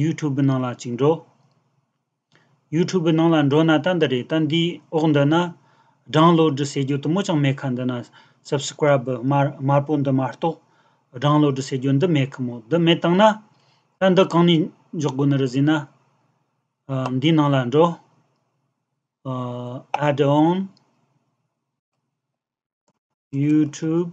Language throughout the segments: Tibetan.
YouTube ནང་ལ་གཅིག་འགྲོ། YouTube ནང་ལ་འགྲོ་ན་ལྟ་འདི་རེད་ལྟ་འདིའི་འོག་འདི་ན། སྦྲང་བློ་གྲི་ཟེར་རྒྱུ་དུ་མོ་ཅང་མེད་ཁ་འདི་ན། Subscribe། དམར་པོ་འདི་མ་གཏོགས། སྦྲང་བློ་གྲི་ཟེར་རྒྱུ་འདི་མེད་ཁ་མོ་འདི་མེད་བཏང་ན། ལྟ་འདི་གང་ནས་འཇོག་དགོས་ནི་རེ་ཟིན་ན། འདིའི་ནང་ལ་འགྲོ། Add on YouTube།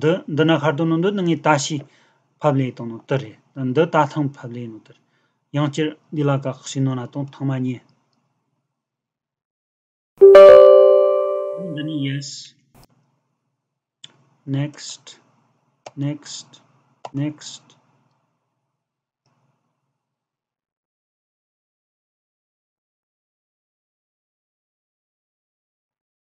འདི་འདི་ནི་ཤར་དུ་ནོ་འདི་ནི་ངའི་ལྟ་ཞིག་ཕབ་ལེ་དང་ནོ་ཏི་རེད་འདི་རྟ་ཐང་ཕབ་ལེ་ནོ་ཏི་རེད་ཡང་བསྐྱར་འདི་ལ་དགག་བྱའི་ནོ་ན་དང་ཐང་མ་གཉིས། ནོ་འདི་ནི yes next next next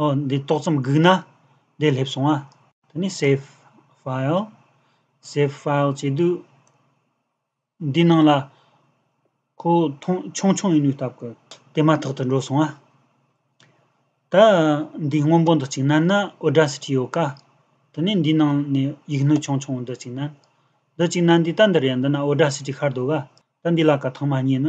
ཨོ་འདི་ཏོག་ཙམ་སྒུག་ན་བདེ་སླེབས་སོང་ཨ། ད་ནི save file save file བྱེད་དུས། འདི་ནང་ལ་ཁོ་ཐོངས་ཆུང་ཆུང་ཡིན་ནུས་སྟབས་ཀྱི་དེ་མ་ཐག་ཏུ་འགྲོ་སོང་ཨ། ད་འདི་སྔོན་པོ་འདི་ཅིག་ན་ན Audacity ཡོད་ཀ། ད་ནི་འདི་ནང་ནས་ཡིག་ནོར་ཆུང་ཆུང་འདི་ཅིག་ན། འདི་ཅིག་ན་འདི་ལྟ་འདི་རེད་འདི་ན Audacity ཤར་འདུག་ཨ། ད་འདི་ལ་ག་ཐང་མ་རྙེད་ན།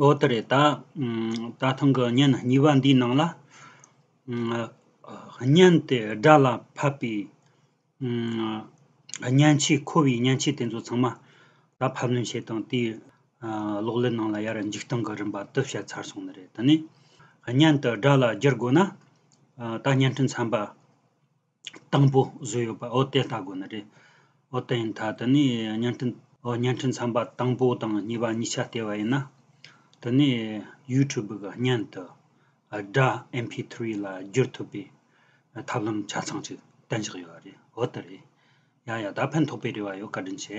འོ་དེ་རེད་ད། ད་ཐེངས་ཀྱི་བརྙན་གཉིས་པ་འདིའི་ནང་ལ། བརྙན་དེ་སྒྲ་ལ་ཕབ་པའི། བརྙན་ཆས་མཁོ་བའི་བརྙན་ཆས་དེ་ཚོ་ཚང་མ། ད་ཕབ་ལེན་བྱེད་དང་དེའི། གློག་ཀླད་ནང་ལ་ཡར་འཇིག་སྟངས་ཀྱི་རིམ་པ་དེ་བཤད་ཚར་སོང་ནི་རེད་དེ་ནས། བརྙན་དེ་སྒྲ་ལ་བསྒྱུར་དགོས་ན། ད་བརྙན་འཕྲིན་ཚན་པ། དང་པོ་བཟོས་ཡོད་པ་འོ་དེ་ལྟ་དགོས་ནི་རེད། འོ་དེ་ཡིན་ད་དེ་ནས་བརྙན་འཕྲིན། འོ་བརྙན་འཕྲིན་ཚན་པ་དང་པོ་དང་གཉིས་པ་གཉིས་ཆ་ལྟེ་བ་ཡིན་ན། དེ་ནས YouTube གི་བརྙན་དུ། སྒྲ MP3 ལ་བསྒྱུར་ཐུབ་པའི། ཐབས་ལམ་ཆ་ཚང་ཅིག་བསྟན་བཞག་ཡོད་རེད་འོ་དེ་རེད། ཡ་ཡ་ད་ཕན་ཐོགས་པའི་རེ་བ་ཡོད་བཀའ་དྲིན་ཆེ།